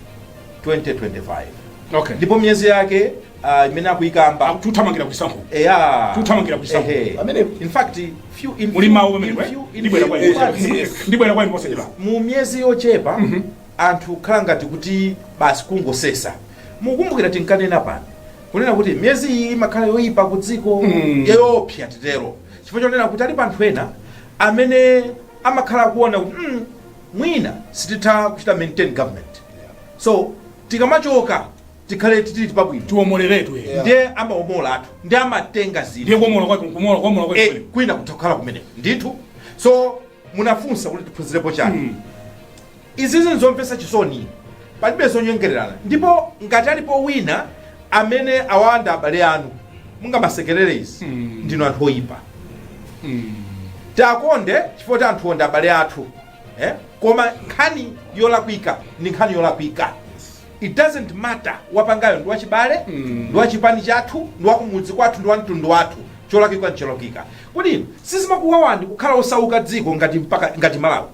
2025 okay ndipo miyezi yake ah, imene akuyikamba akuti tikuthamangira ku chisankho eya Tikuthamangira ku chisankho. Ehe. Pamene- in fact few in muli few- mawu in pamenepo few- in ndibwera few- kwa in fact, inu yes. ndibwera kwa inu posachedwa mu miyezi yochepa anthu khala ngati kuti basi kungosesa mukumbukira tinkanena pano kunena kuti miyezi iyi imakhala yoyipa ku dziko Mm. yoopsa titero chifukwa chonena kuti alipo anthu ena amene amakhala akuona kuti mm, mwina sititha kuchita maintain government so tikamachoka tikhale titili pabwino tiwomoleretu Yeah. ndiye amaomola anthu ndiye amatenga zinthu ndiye kuomola kwake kumola kuomola kwake Eh, kwina kutha kukhala kumeneko ndithu so munafunsa kuti tiphunzirepo chani Mm. izizi nzomvetsa chisoni palibe zonyengererana ndipo ngati alipo wina amene awa ndi abale anu mungamasekerere izi Mm. ndinu anthu oyipa Mm. tiwakonde chifukwa choti anthuwo ndi abale athu eh? koma nkhani yolakwika ndi nkhani yolakwika it doesn't matter wapangayo ndi wachibale ndi wachipani chathu ndi wakumudzi kwathu ndi wamtundu wathu cholakwika ncholakwika kodi inu sizimakuwawani kukhala osauka dziko ngati mpaka ngati malawi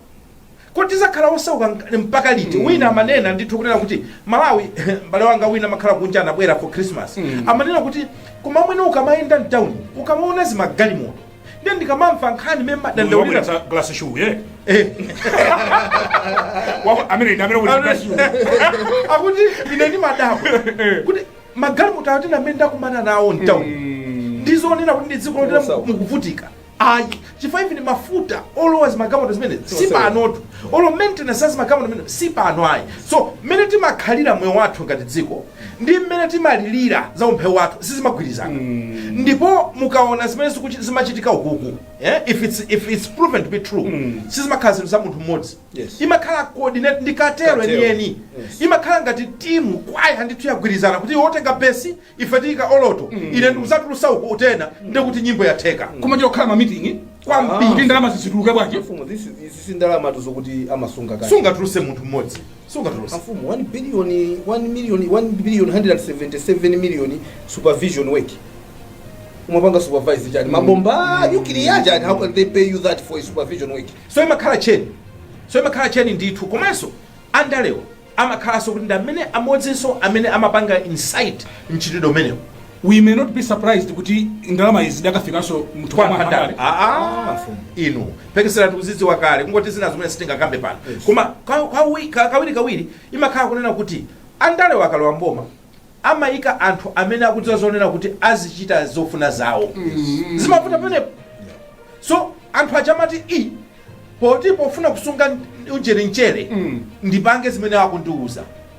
kodi tizakhala osauka nk- mpaka liti wina amanena ndithu kunena kuti malawi mbale wanga wina amakhala kunja anabwera for christmas amanena kuti koma amwene ukamayenda mtawuni ukamaona zimagalimoto nde ndikamamva nkhani mene mmadandaulira Ndawulira glass shoe eh. Eh. Wa- Amene ndi amene wabweretsa glass shoe. akuti ine ndimadabwa kuti magalimoto ati amene ndakumana nawo mtauni sizoonetsa kuti ndi dziko lotera Osauka. mukuvutika ayi chifukwa even ndi mafuta olowa zimagalimoto zimene si Osauka. panotu olo maintenance ya zimagalimoto zimene si pano ayi so mmene timakhalira moyo wathu ngati dziko ndi mmene timalilira za umphawi wathu sizimagwirizana ndipo mukaona zimene zikuchi- zimachitika ukuku eh, if, it's, if it's proven to be true sizimakhala zinthu za munthu mmodzi Yes. imakhala coordinated ndi ma cartel Cartel. enieni Yes. imakhala ngati timu kwaya ndithu yagwirizana kuti wotenga besi ife tiyika alto ine ndikuzatulusa uku wa tenor ndikuti nyimbo yatheka koma chokhala ma meeting kwambiri kuti ndalama zizituluke bwanji Mfumu, this is- this is ndalama tiuzeko kuti amasunga kale sungatuluse munthu mmodzi sungatuluse mfumu 1 billion 1 million 1 billion 177 million supervision work umapanga supervise chani mabomba nyukiliya chani how can they pay you that for a supervision work so imakhala tcheni so imakhala tcheni ndithu komanso andalewo amakhalanso kuti ndi amene amodzinso amene amapanga incite mchitidwe umenewo We may not be surprised kuti ndalama izi zidakafikanso mwina kwa wandale aa inu mphekesera tikuzidziwa kale kungoti zina zimene sitingakambe pano koma ka- kawi- ka- kawirikawiri imakhala kunena kuti andale akalowa m'boma amayika anthu amene akudziwa zonena kuti azichita zofuna zawo zimavuta pamenepo so anthu aja amati i poti pofuna kusunga ujeni mchere ndipange zimene akundiuza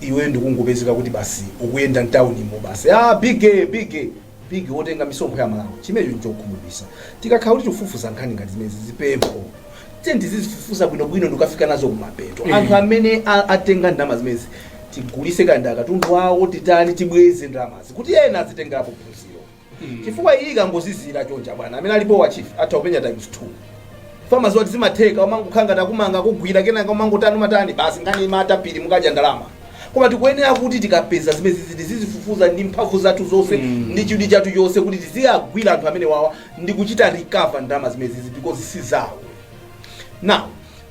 iweyo ndikungopezeka kuti basi ukuyenda mtaunimo basi ah, biggie, biggie. biggie wotenga misonkho ya Amalawi chimenecho nchokhumudwisa tikakhala kuti tikufufuza nkhani ngati zimezi ndi pempho tiyeni tizizifufuza bwinobwino ndi kufika nazo kumapeto Eh. anthu amene a- atenga ndalama zimezi tigulise kanda katundu wawo titani tibweze ndalamazi kuti ena azitengerapo phunziro chifukwa iyi ikangozizira choncha bwana amene alipowa achifwamba atha kupanga times 2 chifukwa aziti zimatheka amangokhala ngati akukumanga akugwira kenaka umangotani umatani basi nkhani imata pilizi mukadya ndalama koma tikuyenera kuti tikapeza zimene zizi tizizifufuza ndi mphamvu zathu zonse ndi chidwi chathu chonse kuti tiziwagwira anthu amene wawa ndi kuchita recover ndalama zimene zizi because si zawo now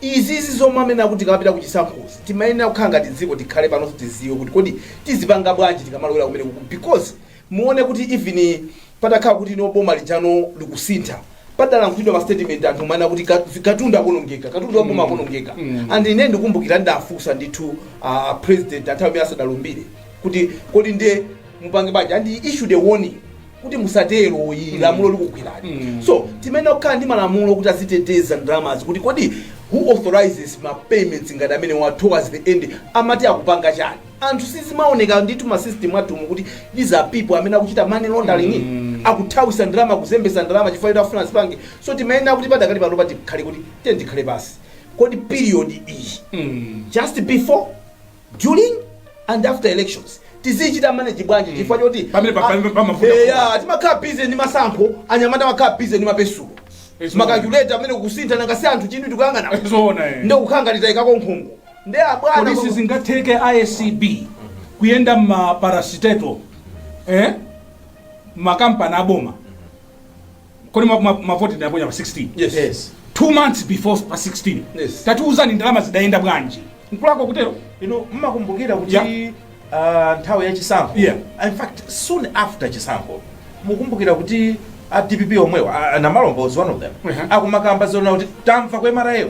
izizi zomwe amene akuti tikapita kuchisankhozi timayenera kukhala ngati dziko tikhale pano tiziwe kuti kodi tizipanga bwanji tikamalowera kumene kuku because muone kuti even patakhala kuti no boma lijano likusintha padalankhulidwa ma statement anthu kumanena kuti ka- katundu akonongeka katundu wa boma akonongeka and ine ndikumbukira ndidafunsa ndithu a a president nthawi imene asadalumbire kuti kodi ndiye mupange bwanji and he issued a warning kuti musatero iyi lamulo likugwirani so timayenera kukhala ndi malamulo kuti aziteteza ndalamazi kuti kodi who authorizes ma payments ngati amene wa towards the end amakhala akupanga chani anthu sizimaoneka ndithu ma system athumu kuti these are people amene akuchita money laundering mm. akuthawisa ndalama kuzembesa ndalama chifukwa choti afuna azipange so timayenera kuti padakali pano pathi khale kuti tiyeni tikhale pasi kodi period iyi mm. just before during and after elections tizichita manage bwanji chifukwa choti Pamene pa- pamene pamavuta Eh, ya, timakhala busy ndi masankho anyamata amakhala busy ndi ma pencil Yes, ma calculator amene akusintha nangasi anthu chinthu tikuyang'ana zoona eh. ndokukhangalita ikako nkhungu Nde a bwana Kodi koma. sizingatheke a acb kuyenda m'ma parastatal eh? ma company a boma kodi ma- ma- mavoti tinaponya pa 16 Yes. Yes. two months before pa 16 Yes. tatiuzani ndalama zidayenda bwanji nkulako kutero inu mukukumbukira kuti Yeah. ah, nthawi ya chisankho Yeah. in fact soon after chisankho mukumbukira kuti a dpp omwewa a- a Namalomba one of them Uh-huh. akumakamba zonena kuti tamva kwemarayo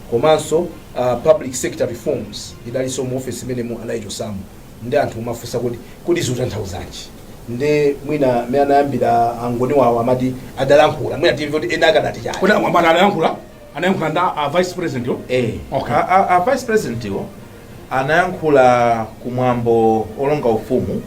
komanso a public sector reforms idalinso mu office imenemo adaichosamo nde anthu kumafunsa kuti kodi zikutanthauzanji nde mwina mmene anayambira angoni wawo amati adalankhula mwina timve kuti ena akadati chani kodi amwamata adalankhula anayankhula ndi a vice president yo eh okay a, a, a vice president iwo anayankhula ku mwambo olonga ufumu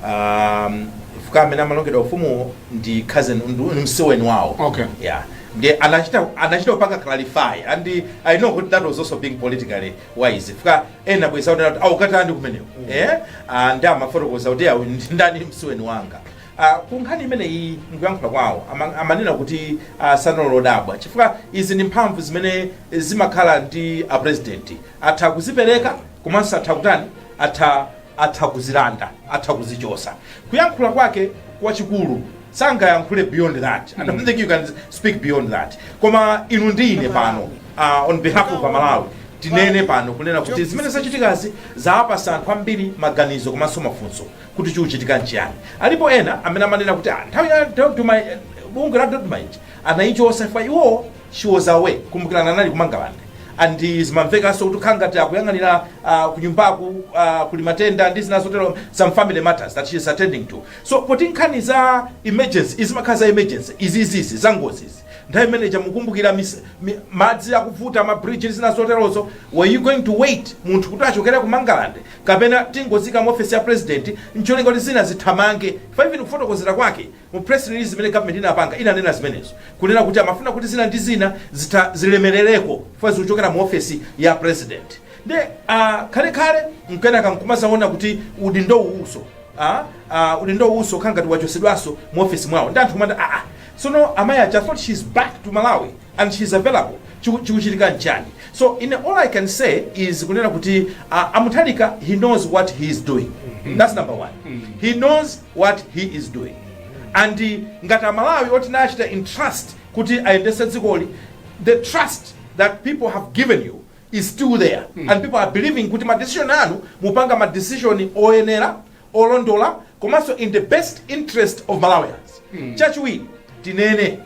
um, fukwa amene amalongedwa ufumuwo ndi cousin ndu- ndi msiweni wawo Okay. yeah nde anachita anachita kupanga clarify and i know kuti that was also being politically wise fukwa ena bwezi akuti akukatani kumeneko eh Ah, nde amafotokoza kuti awa ndi ndani msiweni wanga Uh, ku nkhani imeneyi mkuyankhula kwawo ama- amanena kuti uh, sanali odabwa chifukwa izi ndi mphamvu zimene zimakhala ndi a president atha kuzipereka komanso atha kutani atha atha kuzilanda atha kuzichosa kuyankhula kwake kwachikulu sangayankhule beyond that i don't think you can speak beyond that koma inu ndi ine pano uh, on behalf of amalawi tinene pano kunena kuti zimene zachitikazi zawapasa anthu ambiri maganizo komanso mafunso kuti chikuchitika nchiyani alipo ena amene amanena kuti "Ah, nthawi ya dodoma eh, bungwe la dodoma ija anayichosa chifukwa iwowo she was away kumbukirani anali kumangalande and zimamvekanso kuti khala ngati akuyang'anira uh, kunyumbaku uh, kuli matenda ndi zina zotero some family matters that she is attending to so poti nkhani za emergency zimakhala za emergency izizizi za ngozizi nthawi imene ija mukumbukira mis- mi- madzi akuvuta mabridge ndi zina zoterozo were you going to wait munthu kuti achokere ku mangalande kapena tingoziika mu ofesi ya president ncholinga kuti zina zithamange chifukwa even kufotokozera kwake mu press release imene government inapanga inanena zimenezo kunena kuti amafuna kuti zina ndi zina zitha zilemerereko chifukwa zikuchokera mu ofesi ya president nde ah, khale khale mkenaka nkumazaona kuti udindo uwuso ah, ah, udindo uwuso khala ngati wachosedwaso mu ofesi mwawo nde anthu kumati aa Tsono amayi aja I thought she is back to Malawi and she is available chiku chikuchitika nchani? So ine all I can say is kunena kuti a a Mutharika he knows what he is doing that's number one he knows what he is doing and eh, ngati amalawi oti tinachita entrust kuti ayendetse dzikoli the trust that people have given you is still there and people are believing kuti ma decision anu mupanga ma decision oyenera olondola komanso in the best interest of malawians chachiwiri tinene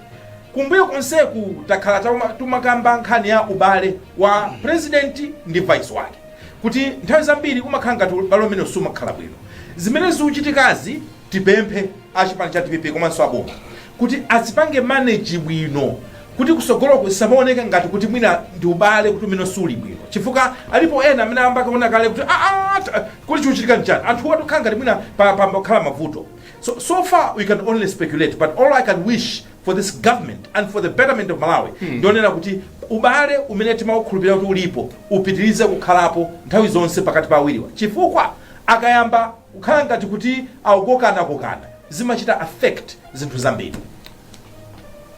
kumbuyo konseku takhala tauma- timakamba nkhani ya ubale wa president ndi vice wake kuti nthawi zambiri umakhala ngati ubale umene siumakhala bwino zimene zikuchitikazi tipemphe achipani cha dpp komanso aboma kuti azipange manage bwino kuti kutsogoloku zisamaoneke ngati kuti mwina ndi ubale kuti umene siuli bwino chifukwa alipo ena amene ayamba kuona kale kuti "Ah, ah, ta- kuti chikuchitika nchani anthu atukhala ngati mwina pa- pa- pakhala mavuto so, so far we can only speculate but all i can wish for this government and for the betterment of malawi ndikunena kuti ubale umene timaukhulupirira kuti ulipo upitirize kukhalapo nthawi zonse pakati pa awiriwa chifukwa akayamba kukhala ngati kuti akukokanakokana zimachita affect zinthu zambiri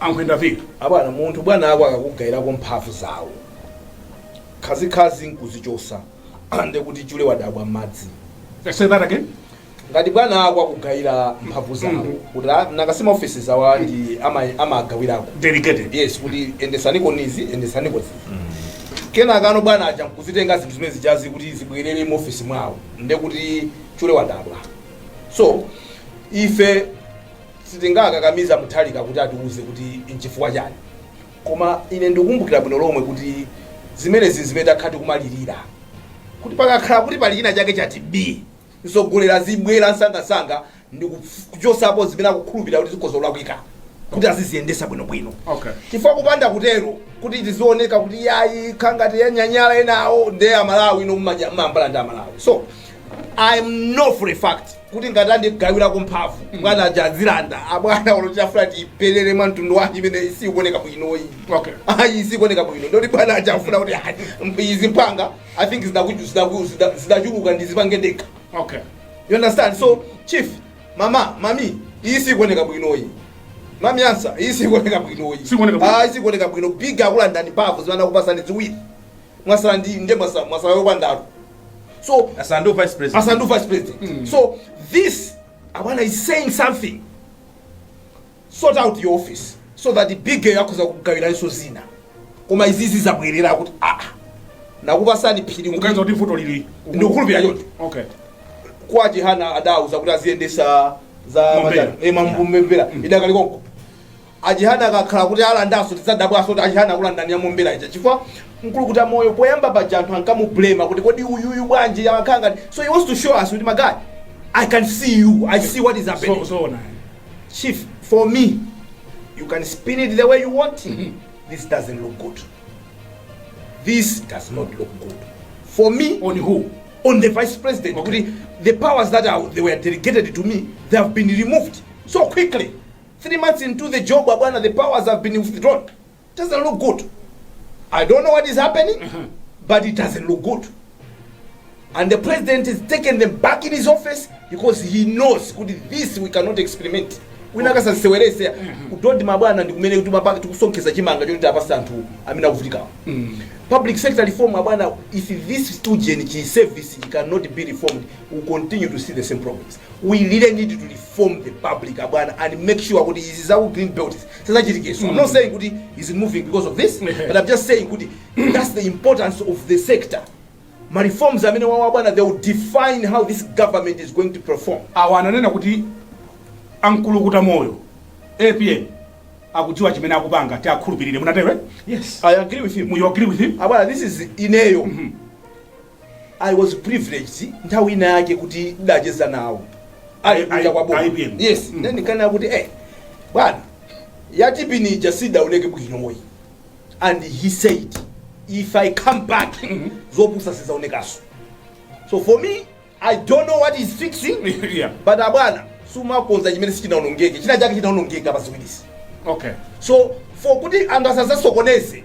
ankhwenda pili abwana munthu bwana ako akakugayirako mphamvu zawo khazikhazi nkuzichotsa nde kuti chule wadabwa mmadzi say that again ngati bwana ako akugayira mphamvu zawo Mhm. kuti ah, nakacisa ofesi zawo ndi ama- amagawirako delegated yes kuti yendetsaniko izi yendetsaniko izi kenaka abwana aja nkuzitenga zinthu zimene zijazi kuti zibwerere mu ofesi mwawo nde kuti chule wadabwa so ife Sitingakakamize a Mutharika kuti atiuze kuti n'chifukwa chani koma ine ndikukumbukira bwino lomwe kuti zimenezi n'zimene takhala tikumalirira kuti pakakhala kuti pali china chake chati phi, mtsogoleri azibwera msangamsanga ndikuchotsapo zimene akukhulupirira kuti zikhoza kulakwika kuti aziziyendetsa bwinobwino chifukwa kupanda kutero kuti tizioneka kuti yayi kukhala ngati anyanyala enawo nde a Malawi inu mumayamba ndi a Malawi so I know for a fact. kuti ngati andigawirako mphamvu bwana aja azilanda abwana olo atafuna tipelele mwa mtundu wanji imeneyi sikuoneka bwinoyi Okay. ayi sikuoneka bwino nde kuti bwana aja afuna kuti ayi, mp- izi mpanga i think zidakuju- zidaku- zida- zidachuluka ndizipange ndekha okay you understand so chief mama mami iyi sikuoneka bwinoyi mami answer iyi sikuoneka bwinoyi Sikuoneka bwino. ayi sikuoneka bwino big wakulandani mphamvu zimene anakupatsani ziwiri mwatsala ndi nde mwatsala mwatsala yopandalo so Atsala ndi vice president. asanduka vice president so this abwana is saying something sort out your office so that big-yo akhoza kugawiranso zina koma izizi zabwerera kuti aa nakupatsani phiri Mukudziwa kuti vuto lili. ndikukhulupirira choncho Okay. kwa Chihana adauza kuti aziyendetsa za Mombera. Mombera idakali konko A Chihana akakhala kuti alandanso tidzadabwanso kuti a Chihana akulandani ya Mombera ija chifukwa Nkulukuta moyo poyamba paja anthu ankamu blamer kuti kodi uyuyu bwanji amakhala ngati so he wants to show us kuti my guy I can see you I see what is happening so Chief for me you can spin it the way you want this doesn't look good this does not look good for me on who on the vice president Okay. kuti the powers that are, they were delegated to me they have been removed so quickly 3 months into the job abwana the powers have been withdrawn doesn't look good i don't know what is happening but it doesn't look good and the president is taking them back in his office because he knows kuti this we cannot experiment wina akasasewerese udodi mabwana ndi kumene kuti mapaka tikusonkheza chimanga choti tapasa anthu amene akuvutikawo public sector reform abwana if this student chi service cannot be reformed we continue to see the same problems we really need to reform reform the public abwana and make sure kuti izi za ku green belt sizachitikenso i'm not saying kuti he's moving because of this but i'm just saying kuti that's the importance of the sector ma reforms amenewa abwana they will define how this government is going to perform awa ananena kuti ankulukuta moyo apm akudziwa chimene akupanga ti akhulupirire munatero eh? yes i agree with him you agree with him abwana this is ineyo I was privileged nthawi ina yake kuti ndacheza nawo ali I- kunja I- kwa boma APM. yes Mm. then kana kuti eh bwana yatipini ija sidaoneke bwinoyi and he said if i come back zopusa sizaonekaso so for me i don't know what he's fixing yeah. but abwana sumakonza chimene sichinaonongeke china chake chinaonongeka pa ziwirizi okay so for kuti anthu asazasokoneze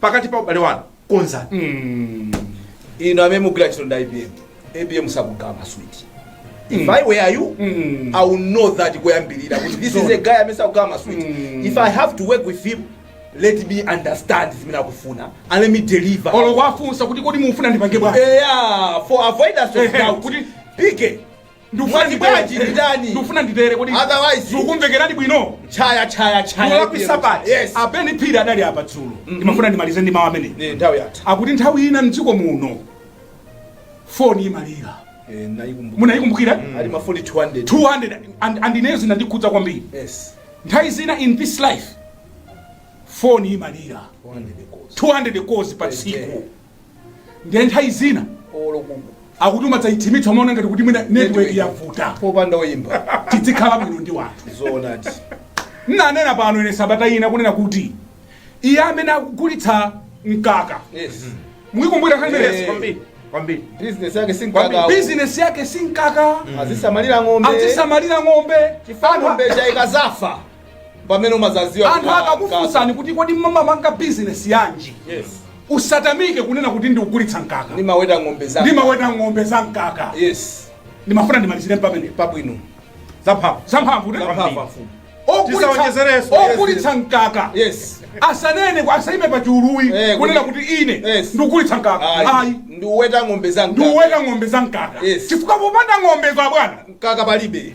pakati pa ubale wanu konzani inu amene mugwira ntchito ndi APM APM sakugawa maswiti if i were you i will know that kuyambirira kuti this is a guy amene sakugawa maswiti if i have to work with him let me understand zimene akufuna and let me deliver olo kuwafunsa kuti kodi mufuna ndipange bwanji yeah for avoidance of Ehe, doubt kuti- pike Ndikufuna Mwati nditere. bwanji nditani? Ndikufuna nditere kodi. Otherwise- Sukumvekerani bwino. Chaya chaya chaya. Mulakwisa pati. Yes. A Ben Phiri adali apa dzulo. Ndimafuna ndimalize ndi mawu amene. Nthawi yatha. Akuti nthawi ina mdziko muno foni imalira. Eh, ndayikumbuka. Munayikumbukira? Ali mafoni 200. 200 and and ineyo zinandikhudza kwambiri. Yes. Nthawi zina in this life foni imalira. 200 calls. 200 calls pa tsiku. ndiye nthawi zina olo kuno akuti umadzaithimitsa umaona ngati kuti mwina network yavuta popanda oyimba tidzikhala bwino ndi wanthu zoonadi mnanena pano ine sabata ina kunena kuti iye amene akugulitsa mkaka yes muikumbukira nkhani Eh. imeneyo kwambiri kwambiri business yake si mkaka bizinesi yake si mkaka azisamalira ng'ombe azisamalira ng'ombe chifukwa ng'ombe zikazafa pamene umazaziwa anthu akakufunsani kuti kodi mumapanga bizinesi yanji yes usatamike kunena kuti ndikugulitsa mkaka ndimaweta ng'ombe za ndimaweta ng'ombe za mkaka yes ndimafuna ndimalizire pamenepa bwino zamphamvu zamphamvu ndi Zamphamvu, kwambiri. mfumu. Ogulitsa- Tisaonjezerenso. ogulitsa mkaka yes asanene ku- asayime pa chuluyi Eh, kunena kuti- kuti ine Yes. ndikugulitsa mkaka ayi ayi ndiweta ng'ombe za mkaka. ndiweta ng'ombe za mkaka Yes. chifukwa popanda ng'ombezo abwana mkaka palibe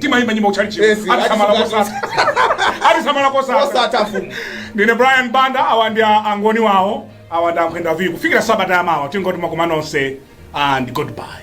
timayimba nyimbo kutchalichiko Yes, atisamala atisamala kosatha atisamala kosatha osatha mfumu ndine brian banda awa ndi a- angoni wawo awa ndi ankhwenda viku kufikira sabata yamawa tingoti mwakoma nonse and goodbye